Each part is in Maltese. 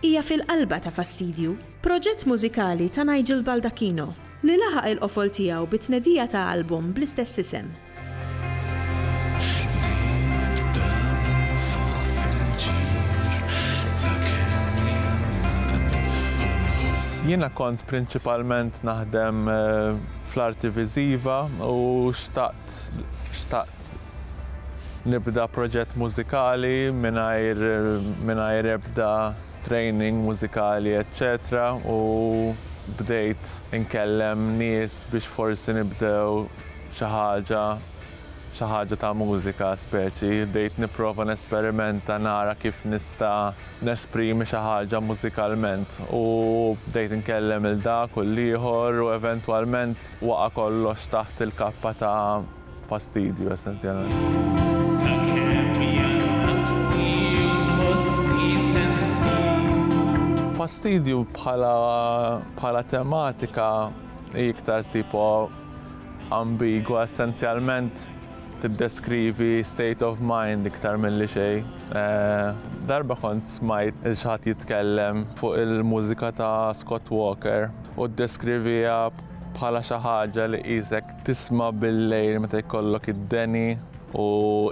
Hija fil-qalba ta' Fastidju, proġett mużikali ta' Nigel Baldacchino, li laħaq il-qofol tiegħu bit-tnedija ta' album bl-istess isem. Jiena kont prinċipalment naħdem fl-arti viżiva u xtaqt Nibda proġett mużikali mingħajr mingħajr ebda training mużikali eċċetera u bdejt inkellem nies biex forsi nibdew xi ħaġa xi ħaġa ta' mużika speċi. Bdejt nipprova nesperimenta nara kif nista' nesprimi xi ħaġa mużikalment u bdejt inkellem 'il dak u 'l ieħor u eventwalment waqa' kollox taħt il-kappa ta' Fastidju essenzjalment. Fastidju bħala tematika hi iktar tipo ambigwa essenzjalment tiddeskrivi state of mind iktar mill-li xej. Eh, darba kont smajt xħat jitkellem fuq il-mużika ta' Scott Walker u ddeskrivija bħala xi ħaġa li qisek Tisma' bil-lejl meta jkollok id-deni u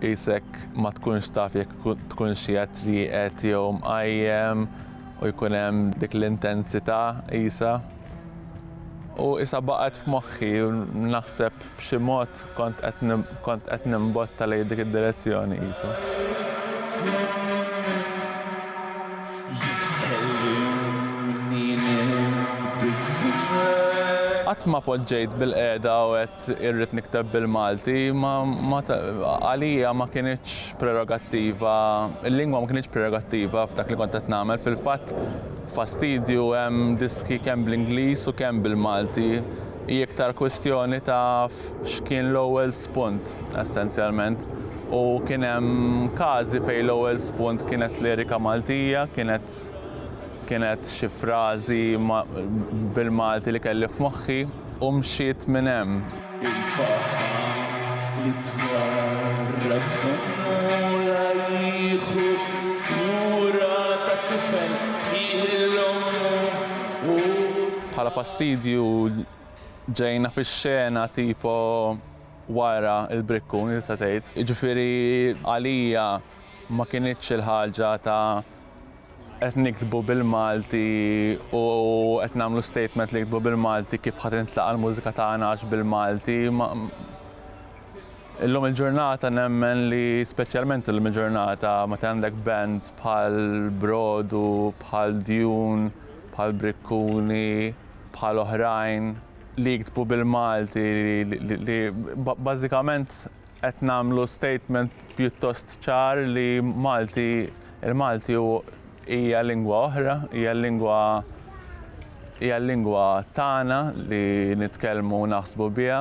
qisek ma tkunx taf jekk tkunx qiegħed rieqed jew mqajjem u jkun hemm dik l-intensità qisha. U qisha baqgħet f'moħħi u naħseb b'xi mod kont qed kont qed nimbotta lejn dik id-direzzjoni qisu. Qatt ma poġġejt bil-qiegħda u għedt irrid nikteb bil-Malti, ma għalija ma kinitx prerogattiva, il-lingwa ma kinitx prerogattiva f'dak li kont qed nagħmel, fil-fatt fastidju hemm diski kemm bl-Ingliż u kemm bil-Malti, hi iktar kwistjoni ta' x'kien l-ewwel spunt essenzjalment u kien hemm każi fejn l-ewwel spunt kienet lirika Maltija, kienet kienet xi frażi bil-Malti li kelli f'moħħi u mxiet minn hemm. Il-faħħam li twarrab żommula jieħu sura ta' tifel tieħi lil ommu u. Bħala fastidju Ġejna fix-xena tipo wara l-brikkuni tista' tgħid. Jiġifieri għalija ma kinitx il-ħaġa ta' qed niktbu bil-Malti u qed nagħmlu statement li niktbu bil-Malti kif ħa tintlaqa' l-mużika tagħna għax bil-Malti. Illum il-ġurnata nemmen li speċjalment illum il-ġurnata meta għandek bands bħal Brodu, bħal Dune, bħal Brikkuni, bħal oħrajn li jiktbu bil-Malti li bażikament qed nagħmlu statement pjuttost ċar li Malti il-Malti hija lingwa oħra, hija lingwa hija lingwa tagħna li nitkellmu u naħsbu biha.